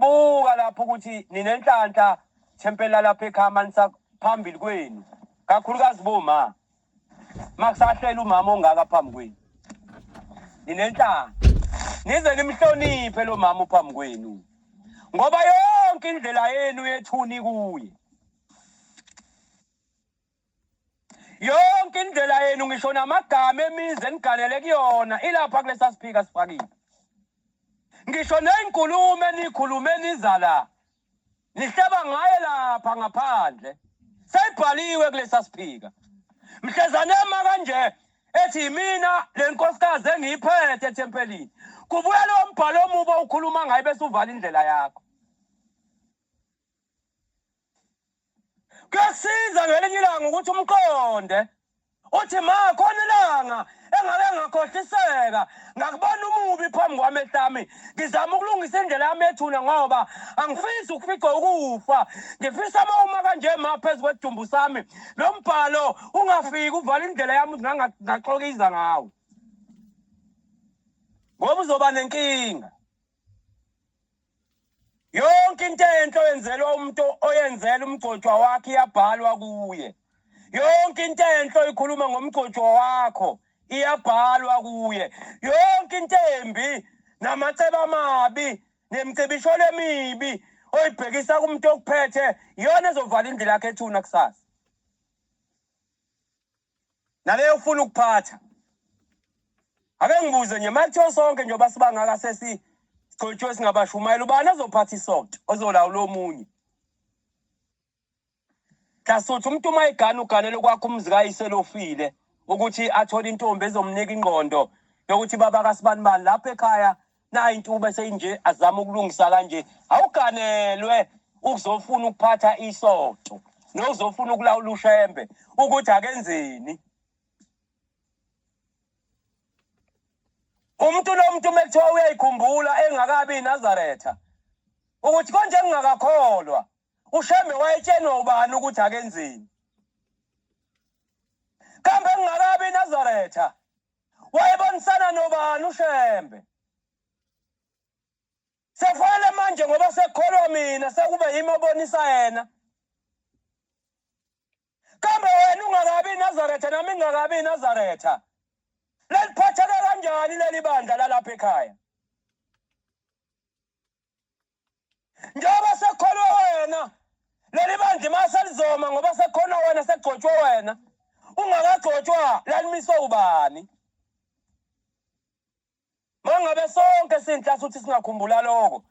Buka lapho ukuthi ninenhlanhla thempeli lalapha ekhama nisaphambili kwenu kakhulukazi boma makusahlela umama ongaka phambi kwenu ninenhlanhla nize nimhloniphe lo mama phambi kwenu ngoba yonke indlela yenu yethuni kuye yonke indlela yenu ngisho namagama emizi eniganele kuyona ilapha kulesa siphika sifakile ngisho ney'nkulumo eniyikhulume niza la nihleba ngaye lapha ngaphandle seyibhaliwe kulesa siphika mhlezanema kanje ethi yimina le nkosikazi engiyiphethe ethempelini kubuya lowo mbhalo omubi owukhuluma ngayo bese uvala indlela yakho kuyasiza ngelinye ilanga ukuthi umqonde uthi ma khona ilanga engake ngakhohliseka ngakubona umubi phambi kwami ehlami ngizama ukulungisa indlela yami ethuna ngoba angifisi ukufica ukufa ngifisa uma uma kanje ma phezu kwedumbu sami lo mbhalo ungafiki uvala indlela yami ngaxokiza ngawo ngoba uzoba nenkinga yonke into enhle oyenzelwa umuntu oyenzela umgcotshwa wakhe iyabhalwa kuye yonke into enhle oyikhuluma ngomgcotshwa wakho iyabhalwa kuye yonke into embi namaceba amabi nemcebisholo emibi oyibhekisa kumuntu okuphethe iyona ezovala indlela yakhe ethuna kusasa naleyo ufuna ukuphatha ake ngibuze nje makuthiwa sonke njengoba sibangaka sesigcotshwe singabashumayela ubani azophatha isonto ozolawula omunye hlasuthi umuntu uma egane uganele kwakho umzi kayise lofile ukuthi athole intombi ezomnika ingqondo yokuthi baba kasibani bani lapha ekhaya nayi intube seyinje azama ukulungisa kanje awuganelwe ukuzofuna ukuphatha isonto nokuzofuna ukulawula ushembe ukuthi akenzeni umuntu nomuntu uma kuthiwa uyayikhumbula engakabi inazaretha ukuthi konje ngingakakholwa ushembe wayetshenwa ubani ukuthi akenzeni kambe ngingakabi inazaretha wayebonisana nobani ushembe sefanele manje ngoba sekholwa mina sekube yimi obonisa yena kambe wena ungakabi inazaretha nami ngingakabi inazaretha leliphatheke kanjani leli bandla lalapha ekhaya njengoba sekholwe wena leli bandla imali selizoma ngoba sekhona wena sekugcotshwe wena ungakagcotshwa lalimiswe ubani mangabe sonke sinhlasi ukuthi singakhumbula lokho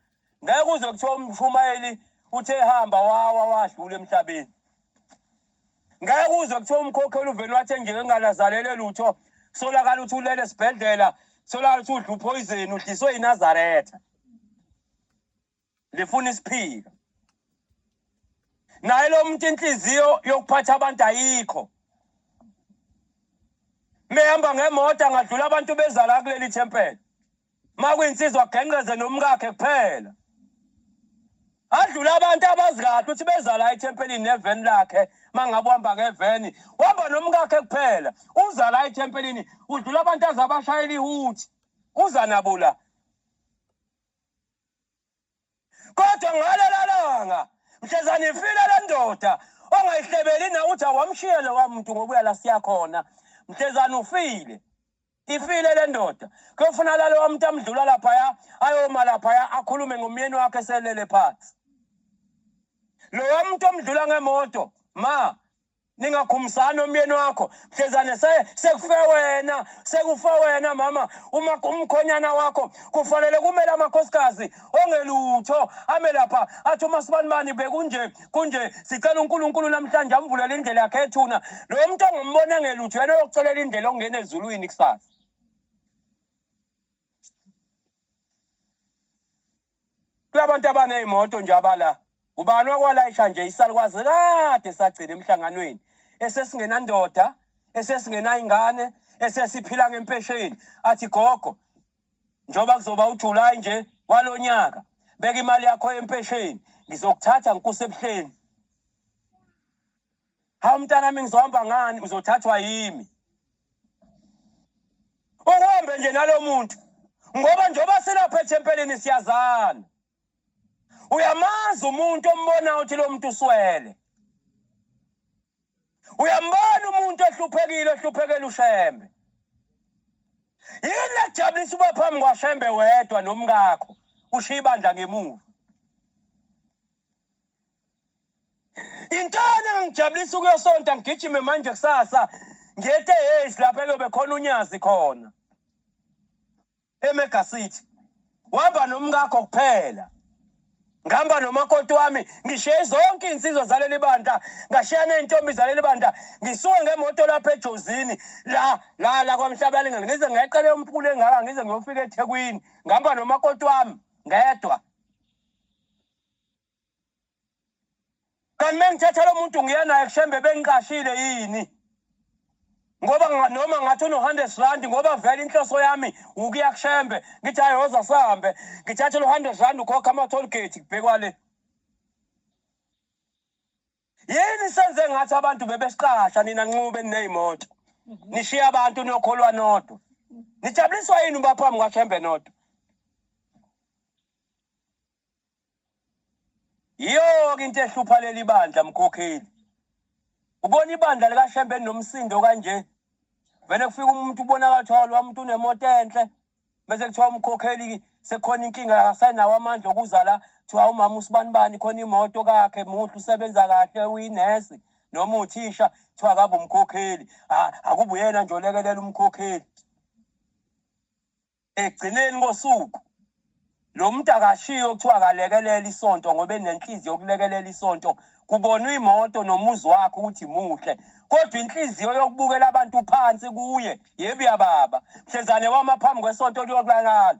ngeke uze kuthiwa umshumayeli uthe hamba wawa wadlula emhlabeni ngeke uzwe kuthiwa umkhokheli uvele wathi engeke ngalazalele lutho solakala ukuthi ulele esibhedlela solakala ukuthi udla uphoyizeni udliswe yinazaretha lifuna isiphika naye lo muntu inhliziyo yokuphatha abantu ayikho mehamba ngemoto angadlula abantu bezala kuleli thempela uma kuyinsizwa agengqeze nomkakhe kuphela adlula abantu abazi kahle ukuthi beza la ethempelini neveni lakhe uma ngabe uhamba ngeveni uhamba nomkakhe kuphela uza la ethempelini udlula abantu aze abashayela ihuthi uza nabo la kodwa ngalelo langa mhlezane ifile le ndoda ongayihlebeli nakuthi awamshiye lowa muntu ngokuya la siya khona mhlezane ufile ifile le ndoda kuyofuna lalowa muntu amdlula laphaya ayoma laphaya akhulume ngomyeni wakhe selele phansi lowa muntu omdlula ngemoto ma ningakhumsani omyeni wakho mhlezane sekufe wena sekufe wena mama uma umkhonyana wakho kufanele kumele amakhosikazi ongelutho ame lapha athi uma sibanibani bekunje kunje sicela unkulunkulu namhlanje amvulele indlela yakhe ethuna lo muntu ongimboni engelutho yena oyokucelela indlela okungena ezulwini kusasa Kulabantu abanezimoto nje abala ubani wakwalayisha nje isalukwazi kade sagcina emhlanganweni esesingenandoda esesingenayingane esesiphila ngempesheni athi gogo njengoba kuzoba uJuly nje walonyaka beka imali yakho yempesheni ngizokuthatha ngikusebuhleni Hawu mntanami ngizohamba ngani uzothathwa yimi. Uhambe nje nalomuntu ngoba njengoba silapha ethempelini siyazana. Uyamazi umuntu ombona uthi lo muntu uswele. Uyambona umuntu ehluphekile ehluphekela ushembe. Yini ejabulisa uba phambi kwashembe wedwa nomkakho ushiya ibandla ngemuva. Intana ngangijabulisa ukuyosonta ngigijime manje kusasa ngete years lapha elobe khona unyazi khona emega city wahamba nomkakho kuphela ngihamba nomakoti wami ngishiye zonke iy'nsizwa zaleli bandla ngashiya ney'ntombi zaleli bandla ngisuke ngemoto lapha ejozini la la la kwamhlabalingelo ngize ngayiqele umphule engaka ngize ngiyofika ethekwini ngihamba nomakoti wami ngedwa kanti mengithatha lo muntu ngiya naye kushembe bengiqashile yini ngoba noma ngathi unohundred rand ngoba vele inhloso yami wukuya kushembe ngithi hayi woza sihambe ngithathe lo hundred rand ukhokha ama-toll gate kubhekwa le yini senze ngathi abantu bebesiqasha nina nxube niney'moto nishiye abantu niyokholwa nodwa nijabuliswa yini uba phambi kwashembe nodwa Yiyo-ke into ehlupha leli bandla mkhokheli. Ubona ibandla likaShembe nomsindo kanje. Vele kufika umuntu ubonakala ukuthi lo muntu unemoto enhle. Bese kuthiwa umkhokheli sekhona inkinga akasenawo amandla okuza la kuthiwa umama usibani bani khona imoto kakhe muhle usebenza kahle uyinesi noma uthisha kuthiwa akabe umkhokheli akubuyena nje olekelela umkhokheli Ekugcineni kosuku lo muntu akashiyo kuthiwa akalekelela isonto ngoba enenhliziyo yokulekelela isonto kubonwa imoto nomuzi wakhe ukuthi muhle kodwa inhliziyo yokubukela abantu phansi kuye yebo yababa mhlezane wama phambi kwesonto liyokulalala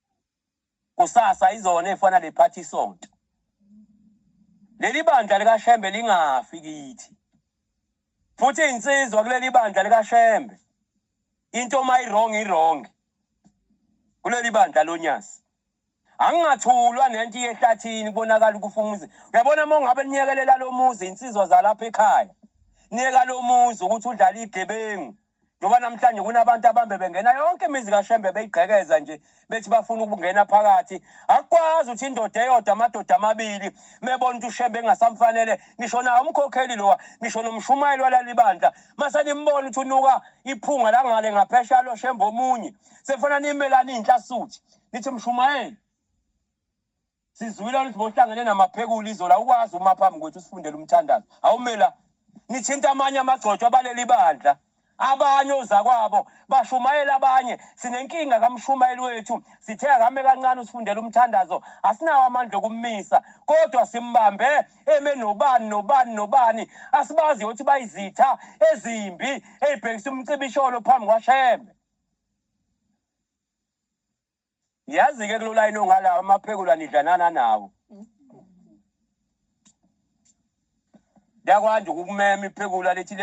kusasa izona efana le party sonto leli bandla likashembe lingafi kithi futhi insizwa kuleli bandla likashembe into uma irong irong kuleli bandla lonyasi angingathulwa nento yehlathini kubonakala ukufumuza uyabona uma ungabe niyekelela lo muzi insizwa zalapha ekhaya niyeka lo muzi ukuthi udlala igebengu Ngoba namhlanje kunabantu abambe bengena yonke imizi kaShembe beyigqekeza nje bethi bafuna ukungena phakathi. Akwazi ukuthi indoda eyodwa amadoda amabili mebona ukuthi uShembe engasamfanele ngisho nawo umkhokheli lowa ngisho nomshumayeli walalibandla mase nimbona ukuthi unuka iphunga langale ngaphesha lo Shembe omunye. Sefuna nimelani inhlasuthi. Nithi mshumayeli Sizwile ukuthi bohlangene namaphekula izola ukwazi uma phambi kwethu sifundele umthandazo. Awumela nithinta amanye amagcotshwa baleli bandla. Abanye ozakwabo bashumayela abanye sinenkinga kamshumayeli wethu sithe akame kancane usifundela umthandazo asinawo amandla okummisa kodwa simbambe eme nobani nobani nobani asibazi ukuthi bayizitha ezimbi eyibhekisa umcibisholo phambi kwashembe Yazi ke kulo line ongala amaphekula nidlanana nawo. Yakwanje ukumema iphekula lithi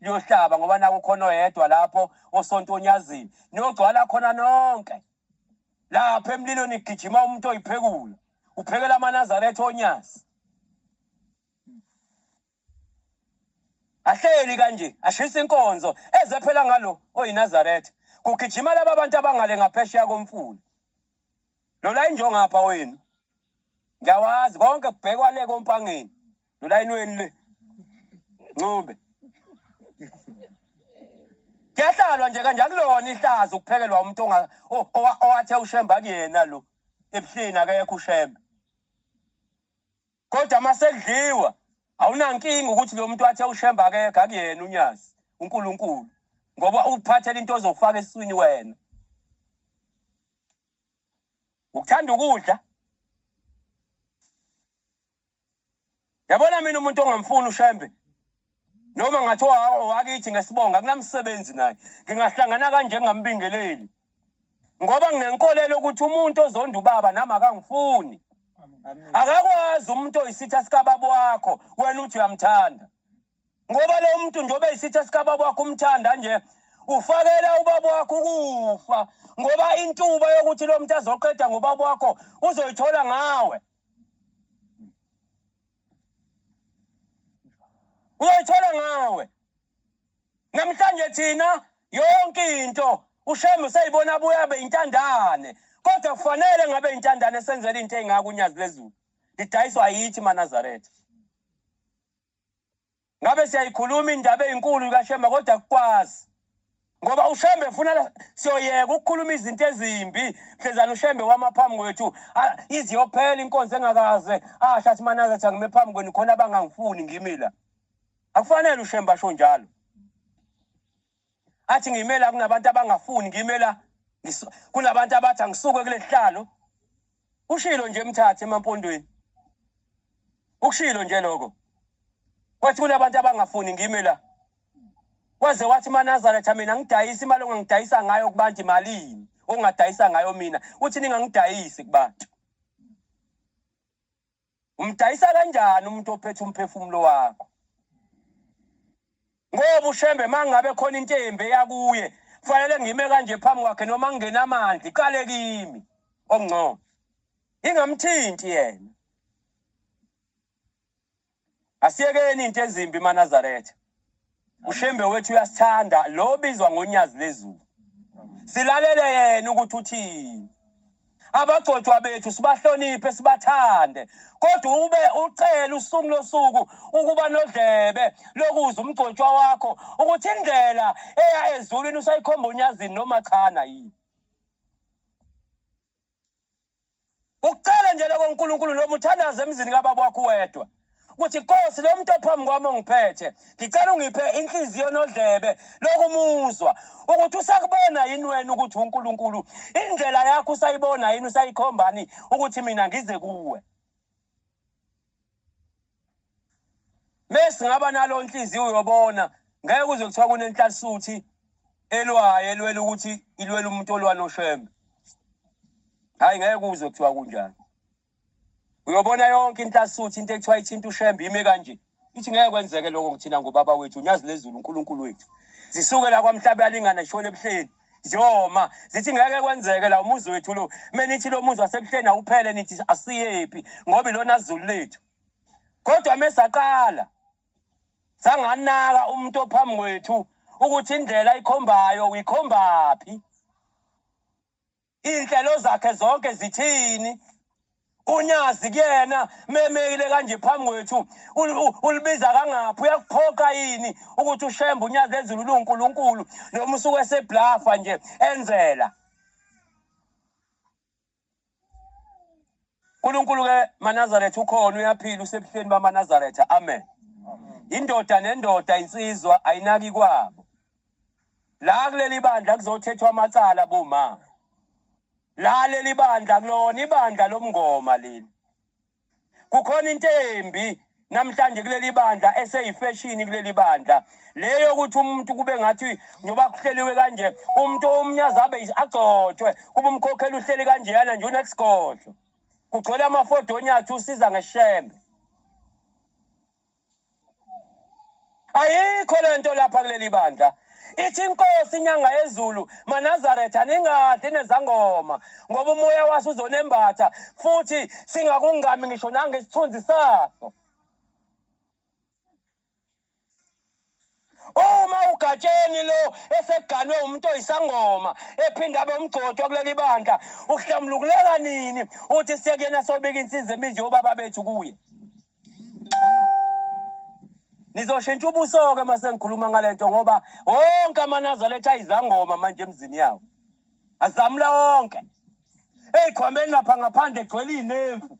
liyohlaba ngoba naku khona oyedwa lapho osonto onyazini. Niyogcwala khona nonke. Lapha emlilo nigijima umuntu oyiphekula. Uphekela amaNazaretha onyazi. ahleli kanje ashisa inkonzo eze phela ngalo oyinazaretha kugijima laba bantu abangale ngaphesheya komfula lola injongapha wenu ngiyawazi konke kubhekwa le kompangeni lolayini wenu le ncube kuyahlalwa nje kanje akulona ihlazo ukuphekelwa umuntu onga- o- owa- owathe ushembe akuyena lo ebuhleni akekho ushembe kodwa uma sekudliwa awunankinga ukuthi lo muntu wathe ushemba akekho akuyena unyazi unkulunkulu ngoba ukuphathela into ozofaka esiswini wena ukuthanda ukudla yabona mina umuntu ongamfuni ushembe noma ngathi owakithi ngesibonga kunamsebenzi naye ngingahlangana kanje ngingambingeleli ngoba nginenkolelo ukuthi umuntu ozonda ubaba nami akangifuni akakwazi umuntu oyisitha sikababa wakho wena uthi uyamthanda ngoba lo muntu njengoba eyisitha sikababa wakho umthanda nje ufakela ubaba wakho ukufa ngoba intuba yokuthi lo muntu azoqeda ngobaba wakho uzoyithola ngawe uyoyithola ngawe namhlanje thina yonke into ushembe useyibona abuya abe intandane kodwa kufanele ngabe intandane senzela into eyingaka unyazi lezulu lidayiswa yithi manazaretha ngabe siyayikhuluma indaba eyinkulu kaShembe kodwa kukwazi ngoba uShembe ufuna siyoyeka ukukhuluma izinto ezimbi mhlezana uShembe wama phambi kwethu iziyophela inkonzo engakaze asho athi manaze athi angime phambi kwenu khona abangangifuni ngimi la akufanele uShembe asho njalo athi ngiyimela kunabantu abangafuni ngiyimela kunabantu abathi angisuke kule sihlalo ushilo nje emthathe emampondweni ukushilo nje lokho wathi kunabantu abangafuni ngime la waze wathi manazareth mina ngidayisa imali ongangidayisa ngayo kubantu imalini ongadayisa ngayo mina uthi ningangidayisi kubantu umdayisa kanjani umuntu ophethe umphefumulo wakho ngoba ushembe mangabe khona into embe yakuye kufanele ngime kanje phambi kwakhe noma ngingena amanzi iqale kimi ongcono ingamthinti yena Asiyekeni into ezimbi maNazaretha. Ushembe wethu uyasithanda lo bizwa ngonyazi lezulu. Silalele yena ukuthi uthini. Abagcotshwa bethu sibahloniphe sibathande kodwa ube ucela usuku losuku ukuba nodlebe lokuzwa umgcotshwa wakho ukuthi indlela eya ezulwini usayikhomba unyazini noma chana yini. ucele nje lokho uNkulunkulu noma uthandaze emzini kababa wakho wedwa ukuthi Nkosi lo muntu ophambi kwami ongiphethe ngicela ungiphe inhliziyo nodlebe lokumuzwa ukuthi usakubona yini wena ukuthi uNkulunkulu indlela yakho usayibona yini usayikhombani ukuthi mina ngize kuwe Mesi ngaba nalo inhliziyo uyobona ngeke kuze kuthiwa kunenhlasuthu elwayo elwela ukuthi ilwela umuntu olwa noshembe. Hayi ngeke kuze kuthiwa kunjani. Uyobona yonke inhlasuthu into ekuthiwa ithinta ushembe ime kanje. Ithi ngeke kwenzeke lokho kuthina ngobaba wethu uNyazi lezulu uNkulunkulu wethu. Zisuke la kwamhlaba yalingana ishona ebuhleni. ziyoma zithi ngeke kwenzeke la umuzi wethu lo uma nithi lo muzi wasebuhleni awuphele nithi asiyephi ngoba ilona zulu lethu kodwa uma saqala sanganaka umuntu ophambi kwethu ukuthi indlela ikhombayo uyikhombaphi Iy'nhlelo zakhe zonke zithini? Unyazi kuyena memeyile kanje phambi kwethu ulibiza kangaphi uyakuphoqa yini ukuthi ushembe unyazi ezulu luNkulunkulu noma usuke eseblafa nje enzela uNkulunkulu ke maNazaretha ukhona uyaphila usebuhleni bamaNazaretha amen indoda nendoda insizwa ayinaki kwabo la kuleli bandla kuzothethwa amacala boma la leli bandla kulona ibandla lomngoma leli kukhona into embi namhlanje kuleli bandla eseyifeshini kuleli bandla leyo ukuthi umuntu kube ngathi njengoba kuhleliwe kanje umuntu omnyazi abe agcotshwe kube umkhokheli uhleli kanjeyana nje unesigodlo kugcwele amafodonyathi usiza ngeshembe ayikho le nto lapha kuleli bandla ithi inkosi inyanga yezulu manazaretha ningadli nezangoma ngoba umoya waso uzonembatha futhi singakungami ngisho nangesithunzi saso uma ugatsheni lo eseganwe umuntu oyisangoma ephinde abe umgcotshwa kuleli bandla uhlambulukuleka nini uthi sekuyena sobika insiza eminje yobaba bethu kuye nizoshintsha ubuso-ke uma sengikhuluma ngale nto ngoba wonke amanazaletha ayizangoma manje emzini yawo azamula wonke eyikhwambeni lapha ngaphandle egcwele iy'nevu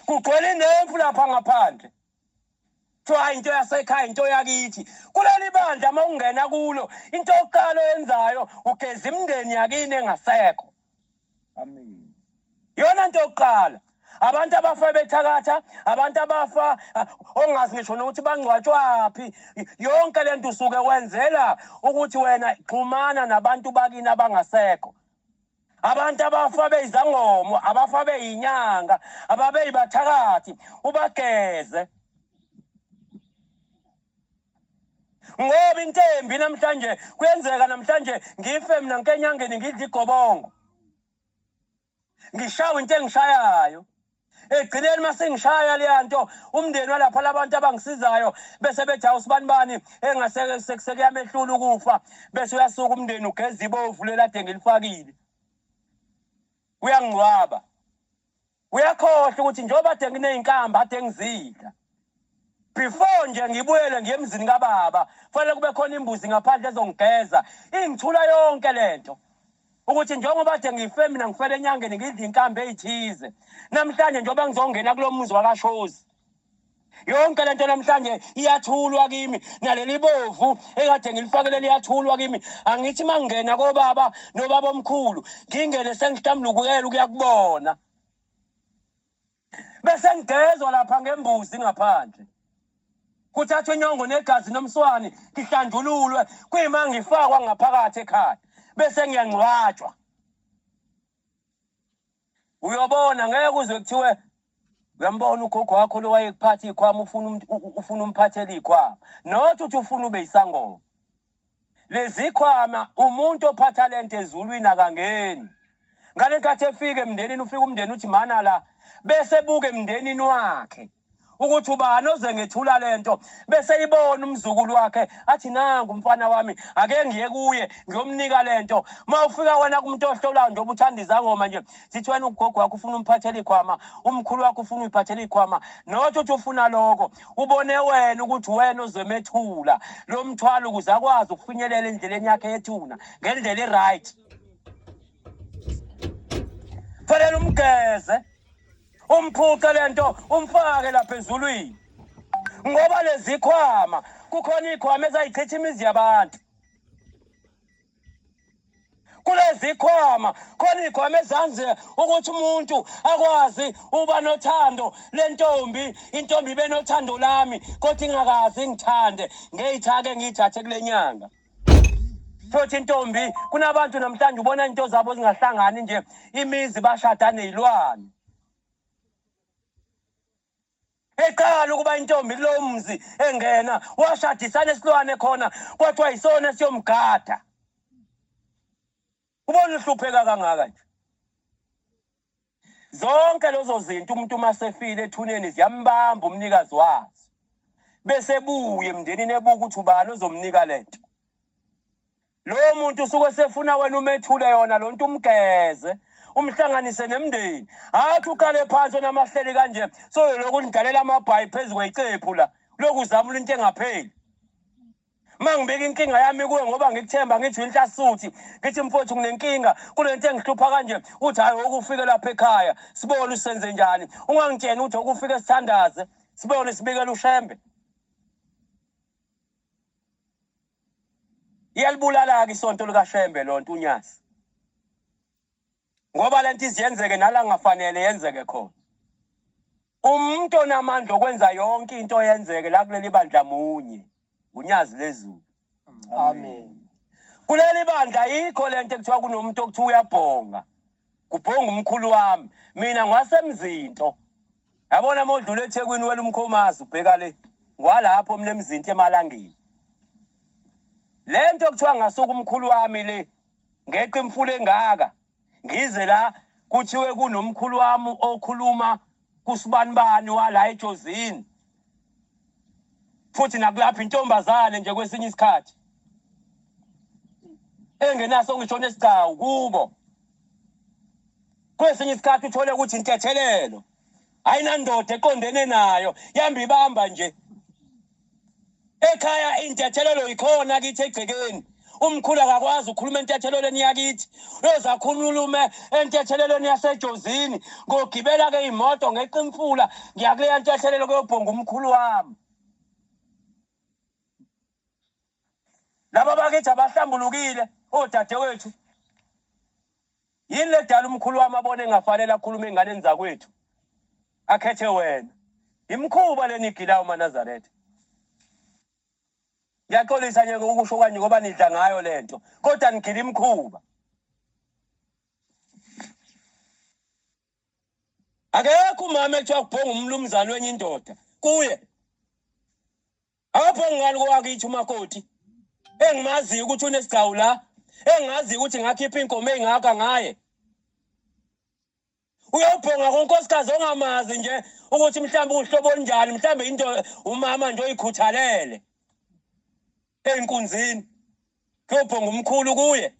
kugcwele inemfu lapha ngaphandle kuthiwa into yasekhaya into yakithi kuleli bandla uma ungena kulo into yokuqala oyenzayo ugeza imindeni yakini engasekho yona nto yokuqala abantu abafa bethakatha abantu abafa ah, ongazi ngisho nokuthi bangcwatshwaphi yonke le nto usuke wenzela ukuthi wena xhumana nabantu bakini abangasekho abantu abafa beyizangomo abafa beyinyanga ababeyibathakathi ubageze ngoba intembi namhlanje kuyenzeka namhlanje ngife mina nkenyangeni ngidla igobongo ngishawe into engishayayo ekugcineni uma sengishaya leya nto umndeni walapha labantu abangisizayo bese bethi awusibani bani engasekuyamehlulela ukufa bese uyasuka umndeni ugeza ibovu lelade ngilifakile uyangcwaba uyakhohlwa ukuthi njengoba de nginey'nkamba ade ngizidla before nje ngibuyele ngiye emzini kababa kufanele kube khona imbuzi ngaphandle ezongigeza ingithula yonke lento ukuthi njengoba kade ngife mina ngifele enyangeni ngidla inkambi eyithize namhlanje njengoba ngizongena kulo muzi wakashozi yonke lento namhlanje iyathulwa kimi naleli bovu ekade ngilifakele liyathulwa kimi angithi mangena kobaba nobaba omkhulu ngingene sengihlambulukukela ukuya kubona bese ngigezwa lapha ngembuzi ngaphandle kuthathwa inyongo negazi nomswani ngihlanjululwe kuyima ngifakwa ngaphakathi ekhaya bese ngiyangcwatshwa uyobona ngeke uzwe kuthiwe uyambona ugogo wakho lo wayekuphatha ikhwama ufuna ufuna umphathele ikhwama not uthi ufuna ube isangoma lezikhwama umuntu ophatha lento ezulwini akangeni ngale nkathi efika emndenini ufika umndeni uthi mana la bese buke emndenini wakhe ukuthi ubani oze ngethula lento bese ibona umzukulu wakhe athi nangu umfana wami ake ngiye kuye ngiyomnika lento mawufika wena kumuntu ohlolayo njengoba uthanda izangoma nje sithi wena ugogo wakho ufuna umphathela ikhwama umkhulu wakho ufuna uyiphathela ikhwama not uthi ufuna lokho ubone wena ukuthi wena ozomethula lo mthwalo ukuze akwazi ukufinyelela endleleni yakhe yethuna ngendlela i-right fanele umgeze umphuce le nto umfake lapha ezulwini ngoba lezi khwama kukhona iy'khwama ezayichitha imizi yabantu kulezikhwama khona iy'khwama ezanze ukuthi umuntu akwazi uba nothando lentombi intombi ibe nothando lami kodwa ingakazi ingithande ngeyitha-ke ngiyithathe kule nyanga futhi intombi kunabantu namhlanje ubona into zabo zingahlangani nje imizi bashada neyilwane eqala ukuba intombi kulo mzi engena washadisana esilwane khona kwathiwa yisona siyomgada ubona uhlupheka kangaka nje zonke lezo zinto umuntu uma sefile ethuneni ziyambamba umnikazi wazo bese buye emndenini ebuka ukuthi ubani ozomnika le nto Lowo muntu usuke sefuna wena umethule yona lonto umgeze umhlanganise nemndeni athi uqale phansi onamahleli kanje soyolokhu nidalela amabhayi phezu kweyicephu la lokhu uzamula into engapheli mangibeka inkinga yami kuwe ngoba ngikuthemba ngithi inhlasuthi ngithi mfowethu nginenkinga kulento engihlupha kanje uthi hayi okufike lapha ekhaya sibone usenze njani ungangitsheni ukuthi okufike sithandaze sibone sibikele ushembe iyalibulala-ke isonto likashembe lonto unyasi ngoba le nto iziyenzeke nala ngafanele yenzeke khona umuntu onamandla okwenza yonke into yenzeke la kuleli bandla munye ngunyazi lezulu amen kuleli bandla yikho le nto ekuthiwa kunomuntu okuthiwa uyabhonga kubhonga umkhulu wami mina ngwasemzinto yabona uma udlula ethekwini wela umkhomazi ubheka le ngwalapho mina emzinto emalangeni le nto kuthiwa ngasuka umkhulu wami le ngeqa imfula engaka ngize la kuthiwe kunomkhulu wami okhuluma kusibani bani wala ejozini futhi nakulapha intombazane nje kwesinye isikhathi engenaso ngisho nesigcawu kubo kwesinye isikhathi uthole ukuthi intethelelo ayinandoda eqondene nayo yamba ibamba nje ekhaya intethelelo yikhona kithi egcekeni umkhulu akakwazi ukhuluma entethelelweni yakithi uyoze akhululume entethelelweni yasejozini ngogibela-ke iy'moto ngeqa imfula ngiyakuleya ntethelelo kuyobhonga umkhulu wami laba bakithi abahlambulukile odadewethu yini ledala umkhulu wami abone engafanele akhulume enganeni zakwethu akhethe wena imkhuba leni igilayo umanazaretha ngiyaxolisa nje ukusho kwanje ngoba nidla ngayo le nto kodwa nigila imkhuba akekho umama ekuthiwa kubhonga umlumzane wenye indoda kuye Akaphongi ngani kowakithi umakoti. Engimaziyo ukuthi unesigcawu la. Engaziyo ukuthi ngakhipha inkomo engaka ngaye. Uyobhonga konkosikazi ongamazi nje ukuthi mhlawumbe uhlobo njani, mhlawumbe into umama nje oyikhuthalele. Enkunzini. Uyobhonga umkhulu kuye.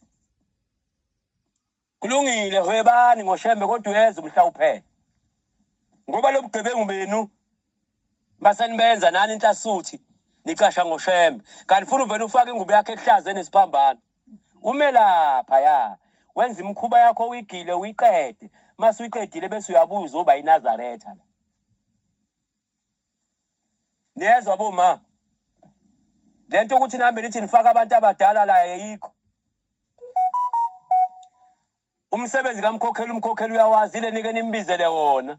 Kulungile hwebani ngoshembe kodwa uyeza umhla uphele. Ngoba lobugebengu benu basenibenza nani inhlasuthi nicasha ngoshembe. Kanti funa uvela ufake ingubo yakhe ehlaze nesiphambano. Ume lapha ya. Wenza imkhuba yakho uyigile uyiqede. Mase uyiqedile bese uyabuza uba iNazaretha la. niyezwa boma le nto ukuthi nihambe nithi nifake abantu abadala la yeyikho umsebenzi kamkhokheli umkhokheli uyawazi ile nike nimbizele wona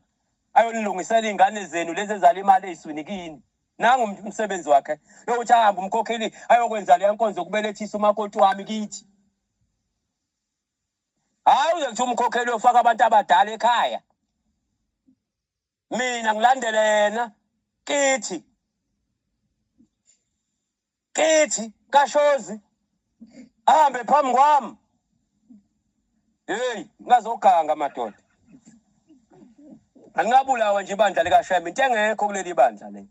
ayonilungisela iy'ngane zenu lezi ezala imali ey'swini kini nangu umsebenzi wakhe yokuthi ahambe umkhokheli ayokwenza leya nkonzo kubelethisa umakoti wami kithi hhayi uze kuthiwa umkhokheli uyofaka abantu abadala ekhaya mina ngilandele yena kithi kithi kashozi ahambe phambi kwami heyi ngazoganga madoda angingabulawa nje ibandla likashema into engekho kuleli bandla le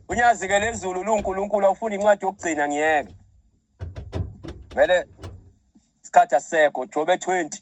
unyazike lezulu lunkulunkulu awufuna incwadi yokugcina ngiyeke vele isikhathi asisekho jobe 20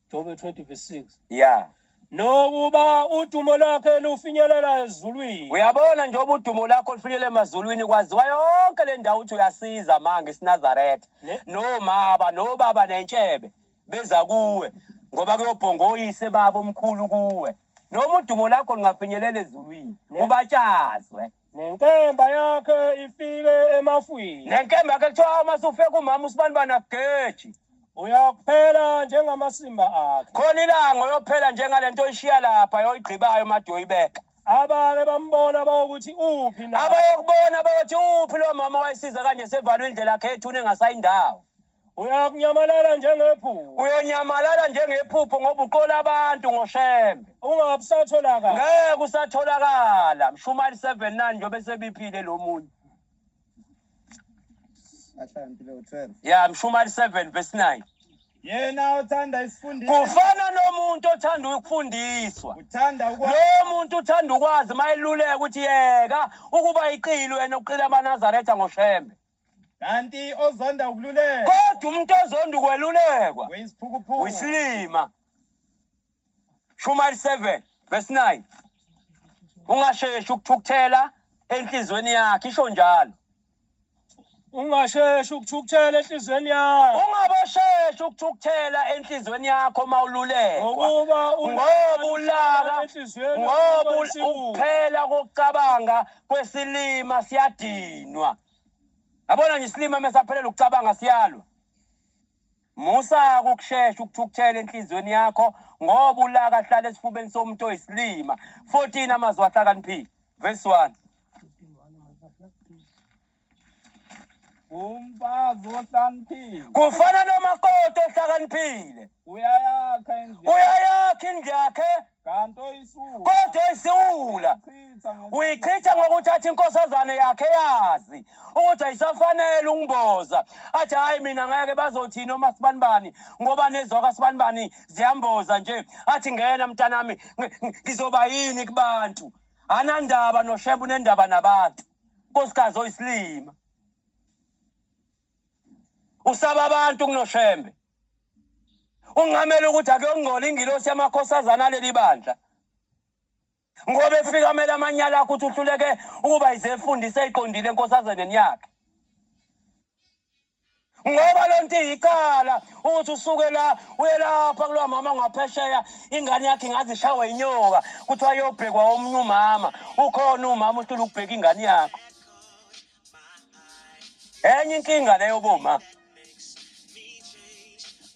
Jobe 20 verse 6. Yeah. Nokuba udumo lakhe lufinyelela ezulwini. Uyabona njengoba udumo lakho lufinyelela emazulwini kwaziwa yonke le ndawo ukuthi uyasiza manje isinazaretha. Nomaba nobaba nentshebe beza kuwe ngoba kuyobhonga oyise babo omkhulu kuwe. Noma udumo lakho lungafinyelela ezulwini ubatshazwe. Nenkemba yakhe ifike emafwini. Nenkemba yakhe kuthiwa uma sufe kumama usibani bana geji. Uyakuphela njengamasimba akhe. Khona ilanga uyophela njengalento oyishiya lapha yoyigqibayo made uyoyibeka. Abake bambona bawokuthi uphi na. Abayokubona bayothi uphi lo mama wayisiza kanje sevalwe indlela yakhe ethuna engasayindawo. uyakunyamalala njengephupho uyanyamalala njengephupho ngoba uqola abantu ngoshembe ungabe usatholakala ngeke usatholakala mshumali 79 njengoba sebiphile lo muntu ya mshumali 7 verse 9 yena othanda isifundiso kufana nomuntu othanda ukufundiswa uthanda ukwazi lo muntu uthanda ukwazi mayeluleka ukuthi yeka ukuba iqili wena uqila amanazaretha ngoshembe kanti ozonda ukululekwa kodwa umuntu ozonda ukwelulekwa uyisiphukuphuku uyisilima shumayeli 7 verse 9 ungasheshi ukuthukuthela enhliziyweni yakhe isho njalo ungasheshi ukuthukuthela enhliziyweni yakho ungabasheshi ukuthukuthela enhliziyweni yakho uma ululekwa ngokuba ngoba ulaka ngoba ukuphela kokucabanga kwesilima siyadinwa yabona nje isilima mesaphelela ukucabanga siyalwa musa ukushesha ukuthukuthela enhlizweni yakho ngoba ulaka hlala esifubeni somuntu oyisilima 14 amazwi ahlakaniphile verse 1 Umfazi ohlaniphile kufana nomakoti ohlakaniphile, uyayakha endlini uyayakha indlu yakhe kanti oyisulu kodwa oyisiwula chitha ngokuthi uyichitha ngokuthatha inkosazane yakhe yazi ukuthi ayisafanele ukumboza athi hhayi mina ngeke bazothini omasibanibani ngoba nezwa kasibanibani ziyamboza nje athi ngena mntanami ngi- ngi- ngizoba yini kubantu anandaba noshembe unendaba nabantu nkosikazi oyisilima usaba abantu kunoshembe ungamele ukuthi akuyongcola ingilosi yamakhosazana aleli bandla ngoba efika amele amanyala akho ukuthi uhluleke ukuba yizefundisa eyiqondile enkosazeneni yakhe ngoba le nto iyikhala ukuthi usuke la uye lapha kulowa mama ngaphesheya ingane yakhe ingaze ishawe inyoka kuthiwa yobhekwa omunye umama ukhona umama uhlula ukubheka ingane yakho enye inkinga leyo boma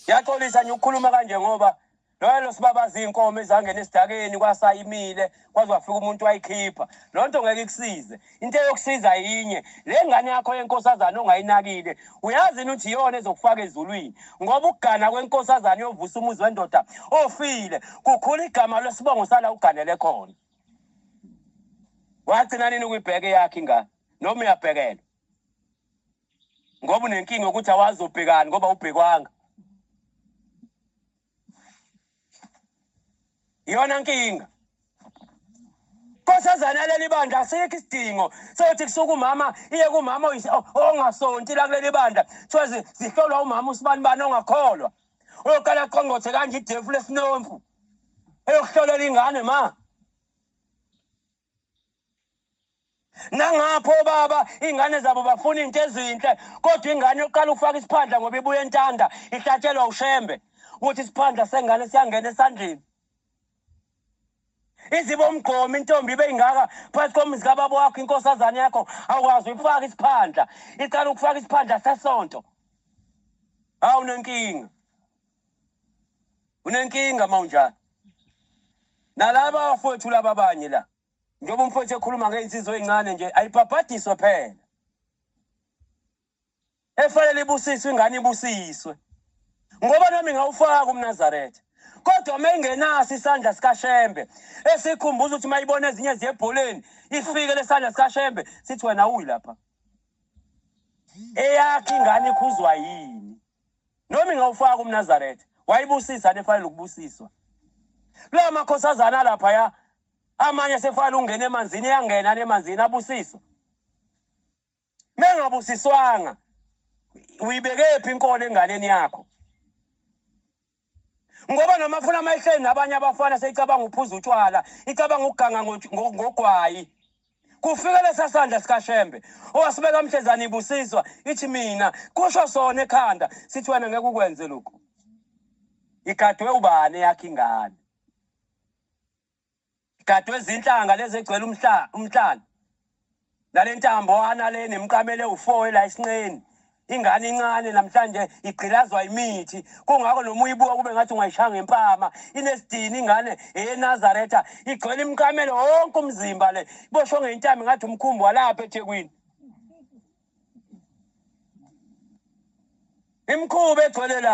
yaxolisa nje ukukhuluma kanje ngoba Nalo sibabaza iy'nkomo ezangena esidakeni kwasayimile kwaze wafika umuntu wayikhipha loo nto ngeke ikusize into eyokusiza yinye le ngane yakho yenkosazane ongayinakile uyazi yini ukuthi iyona ezokufaka ezulwini ngoba ukugana kwenkosazane yovusa umuzi wendoda ofile kukhula igama lwesibongo sala uganele khona wagcina nini ukuyibheka eyakhe ingane noma uyabhekela ngoba unenkinga yokuthi awazobhekani ngoba ubhekwanga iyona nkinga nkosazana leli bandla asikho isidingo sokuthi kusuke umama iye kumama ongasonti la kuleli bandla kuthiwa zihlolwa umama usibani bani ongakholwa uyokala qongqothe kanje idefu lesinomfu eyokuhlolela ingane ma nangapho obaba iy'ngane zabo bafuna iy'nto ezinhle kodwa ingane yokuqala ukufaka isiphandla ngoba ibuye entanda ihlatshelwa ushembe ukuthi isiphandla sengane siyangena esandleni izibe umgqomi intombi ibe ingaka phakathi komuzi kababa wakho inkosazane yakho awukwazi ukufaka isiphandla iqala ukufaka isiphandla sesonto hawu nenkinga unenkinga uma unjalo nalaba abafowethu laba abanye la njengoba umfowethu ekhuluma ngey'nsizwa ey'ncane nje ayibhabhadiswe phela efanele ibusiswe ingane ibusiswe ngoba nami ngawufaka umnazaretha kodwa uma ingenaso isandla sikashembe esikhumbuza ukuthi uma ibona ezinye ziyebholeni ifike lesandla sikashembe sithi wena uyi lapha eyakhe ingane ikhuzwa yini noma ingawufaka umnazaretha wayibusisa nefanele ukubusiswa kula makhosazana laphaya amanye sefanele ungena emanzini eyangena nemanzini abusiswa mengabusiswanga uyibekephi inkolo enganeni yakho ngoba noma funa mayihleli nabanye abafana seyicabanga ukuphuza utshwala icabanga ukuganga ngogwayi kufike lesasandla sikashembe owasibeka mhlezana ibusiswa ithi mina kusho sona ekhanda sithi wena ngeke ukwenze lokhu igadwe ubani yakhe ingane Igadwe izinhlanga lezi egcwele umhlaba umhlaba. Nalentambo ana le nemqamele ufoe la isinqeni. ingane incane namhlanje igqilazwa imithi kungakho noma uyibuka kube ngathi ungayishaya ngempama inesidini ingane eyenazaretha igcwele imqamele wonke umzimba le ibosho ngentami ngathi umkhumbi walapha ethekwini imkhuba egcwele la